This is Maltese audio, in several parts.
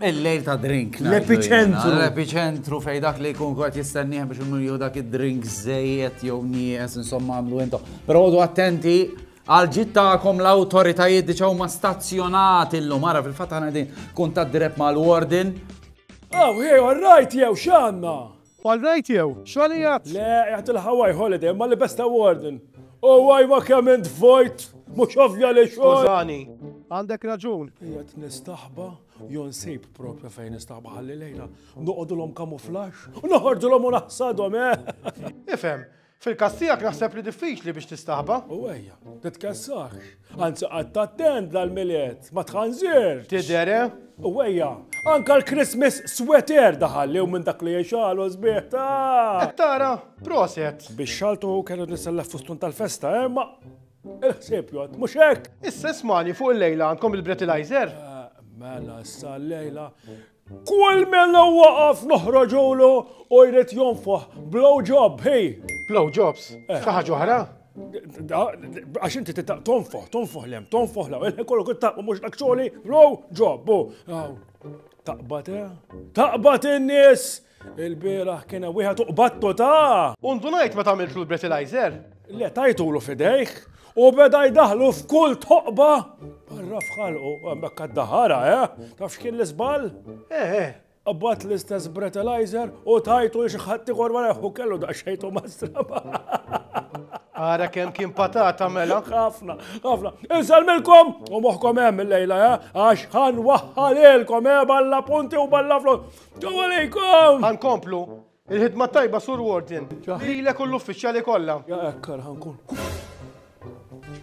Il-lejl ta' drink. L-epiċentru. L-epiċentru fej dak li jkun kwart jistenniħ biex unnu jew dak id-drink zejet jew nijes insomma għamlu intom. Pero għodu attenti għal-ġit ta'kom l-autoritajiet diċaw ma stazzjonati l-lum. Għara fil-fat għana din kun ta' drep ma' l-warden. Oh, hey, all right, jew xanna. Bħal ride jew, xogħol ijat? Le, qiegħed il-Hawaii holiday ma' Libesta Warden. Hawaii ma' kemm int vojt! Mhux ovvja li xogħol! Skużani. Għandek raġun. Qiegħed nistaħba, jew nsib propja fejn nistaħba ħalli lejla noqogħdulhom kamuflaxx u noħorġulhom u naħsadhom, eh! Ifhem, Fil-każ tiegħek naħseb li diffiċli biex tistaħba. U ejja, titkessax. Anzi qatt attent dal-milied, ma tħanżirx. Tidher, eh? U ejja, anka l-Christmas sweater daħal li minn dak li jxalu sbieħ ta' Tara, proset. Biex xaltu kellu nisellef fustun tal-festa, eh, ma il-ħsieb jgħod, mhux hekk. Issa smani fuq il-lejla għandkom il-breathalyzer? Eh, mela, issa l-lejla Kull mela waqaf noħroġulu u jrid jonfoħ blow job, hey! Blow jobs? Eh. Xi ħaġa oħra? Għax inti titaq tonfoħ, tonfoħ lem, tonfoħ law, il-ħin kollu kut taqba mux akċoli, row, ġobbu. Taqbat, eh? Taqbat in-nies Il-bieraħ kien hemm wieħed uqbattu ta'! U ndunajt meta għamiltlu l-breathalyzer. Le tajtulu fidejh u beda jdaħlu f'kull toqba barra f'ħalqu. Hemmhekk għad-daħara, eh? Taf x'kien l-iżball? Eh, eh. Qabbat l-istess breathalyzer u tajtu li xi ħadd ieħor wara jħu kellu daqsxejtu mastraba. Ara kemm kien patata mela. Ħafna, ħafna. Insalmilkom u moħħkom hemm il-lejla, eh? Għax ħan waħħalilkom, eh? Balla punti u balla flok. Ġew għalejkom! Għankomplu, il-ħidma tajba sur Warden. Lilek u l-uffiċjali kollha. Ja ekkar ħankun.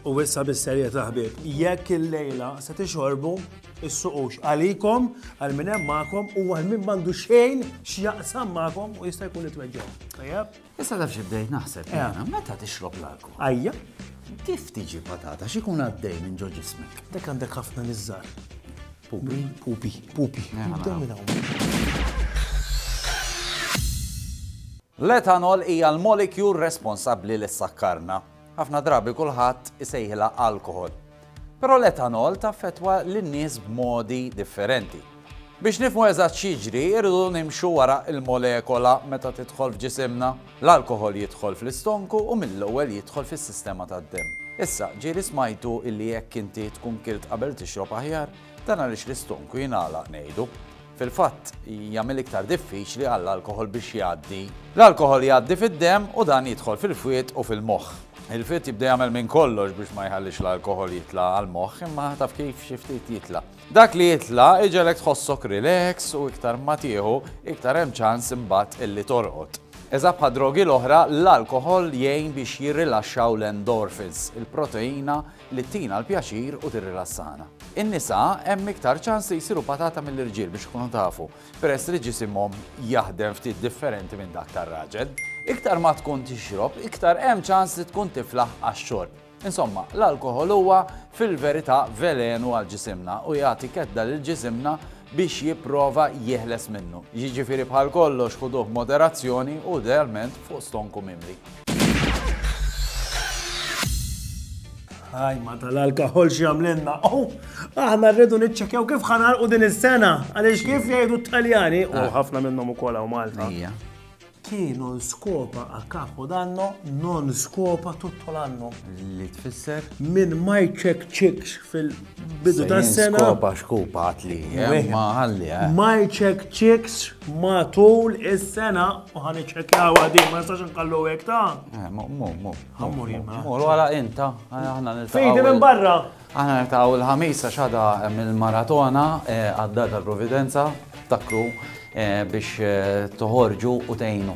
U issa bis-serjetà ħbieb, jekk il-lejla se tixorbu is-suqux għalikom, għal min hemm magħkom u għal min m'għandu xejn x'jaqsam magħkom u jista' jkun itweġġew. Tajjeb? Issa taf xi bdejt naħseb jiena, meta tixrob l-alkohol? Ajja. Kif tiġi patata x'ikun għaddej minn ġo ġismek? Dek għandek ħafna niżżar. Pupi, pupi, pupi. Jibdew minn hawn. L-etanol hija l-molekjul responsabbli li ssakkarna. Ħafna drabi kulħadd isejħilha alkoħol. Però l-etanol taffettwa lin-nies b'modi differenti. Biex nifhmu eżatt x'jiġri, irridu nimxu wara l-molekola meta tidħol f'ġisimna. L-alkoħol jidħol fl-istonku u mill-ewwel jidħol fis-sistema tad-demm. Issa, ġieli smajtu illi jekk inti tkun kilt qabel tixrob aħjar, dan għaliex l-istonku jingħalaq ngħidu. Fil-fatt, jagħmel iktar diffiċli għall-alkoħol biex jgħaddi. L-alkoħol jgħaddi fid-demm u dan jidħol fil-fwied u fil-moħħ. Il-fwied jibda jagħmel minn kollox biex ma jħallix l-alkoħol jitla' għall-moħħ imma taf kif xi ftit jitla'. Dak li jitla' iġegħlek tħossok relax u iktar ma tieħu, iktar hemm ċans imbagħad illi torqod. Eżatt bħad-drogi l-oħra, l-alkoħol jgħin biex jirrilaxxaw l-endorphins, il-proteina li ttina l-pjaċir u tirrilassana. In-nisa hemm iktar ċans li jsiru patata mill-irġiel biex tkunu tafu, peress li ġisimhom jaħdem ftit differenti minn dak tar-raġel. Iktar ma tkun tixrob, iktar hemm ċans li tkun tiflaħ għax-xorb. Insomma, l-alkoħol huwa fil-verità velenu għal ġisimna u jagħti kedda lil ġisimna biex jipprova jeħles minnu. Jiġifieri bħal kollox ħuduh b'moderazzjoni u idealment fuq stonku mimli. Aj, ma tal-alkohol xi għamlenna. Oh, aħna rridu niċċekjaw kif ħanarqu din is-sena. Għaliex kif jgħidu t-Taljani, u ah. ħafna minnhom ukoll hawn Malta. Chi non skopa a capo danno, non skopa tutto l'anno. Li tfisser? Min ma jċekċikx fil bidu ta' sena. Skopa xkupa għatli, eh, ma għalli. Eh. Ma jċek ċiks ma tul is-sena u ħan iċċekjaw għadi, ma jistax nkallu għek ta' eh, Mur, mur, mur. Mur, mur, għala inta. Fejdi minn barra. Għana nirtaw il-ħamisa xada mill-maratona għadda tal-Providenza, takru biex toħorġu u tejnu.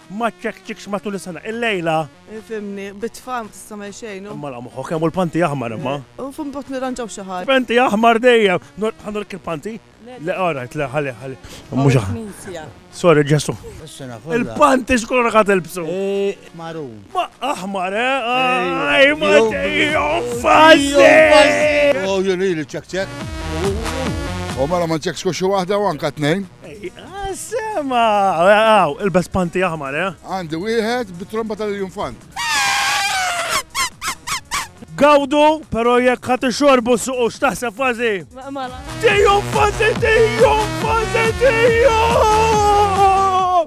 Ma ċċekċikx matul is-sena. Illejla. Fhimni, bit-tfal ma tista' tagħmel xejn u. Imma la moħħok hemm u l-panti aħmar imma. U f'hemm bogħod nirranġaw xi ħaġa. Panti aħmar dejjem! Ħa nurrek il-panti? Le all right, le ħalli, ħalli. Mhux aħ. Il-Knisja. Sorry Ġesù. Is-sena kollha. Il-panti x'kulur ħa tilbsu? Marun. Ma aħmar, eh? Aj ma dejjem fażżi! U jien ili ċċekċek. U mela ma nċekkx xi waħda u anke tnejn. Għas-sema! Għaw, ilbes panti aħmar, eh? Għandi wieħed bit-tromba tal-iljunfant. Gawdu, pero jekk ħat xorbu suqu x'taħseb fazi. Tiju fazi, tiju fazi, tiju!